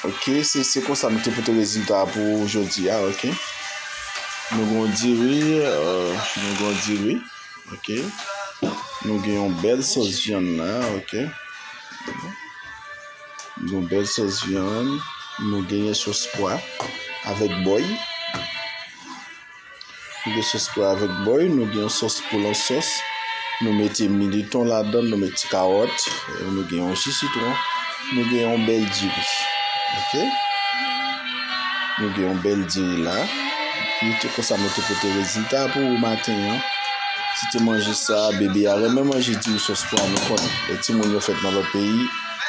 Ok se se konsa nou te pote rezilta a pou ou jodi a ok. Nou gon diri, nou gon diri ok. Nou gen yon bèl sòs vyann la ok. Nou gen bèl sòs vyann, nou genyen sòs pwa avèk bòy. Nou gen sos pou avèk bòy, nou gen yon sos pou lòt sos. Nou mete militon ladan, nou mete ti kawòt, nou gen yon ji sitwon, nou gen yon bèl diri. Ok? Nou gen yon bèl diri la. Epi tout konsa mwen te pote rezilta pou ou maten an. Si te manje sa, bebe a renmen manje diri sos pwa nou konnen. Lè timoun yo fèt nan lòt peyi,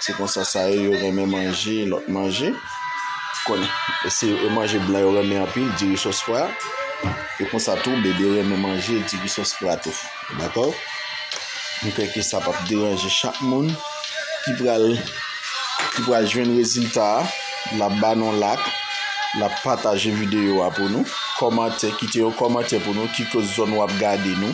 se konsa sa ye yo renmen manje lòt manje. konnen se yon manje blan yo renmen anpil diri sos pwa e konsa tou bebe renmen manje diri sos pwa tou dakò m kwè ke sa pap deranje chak moun ki pral ki pral jwenn rezilta a lap ba nou lak lap pataje videyo a pou nou kòmante kite yon kòmante pou nou ki koz zòn wap gade nou.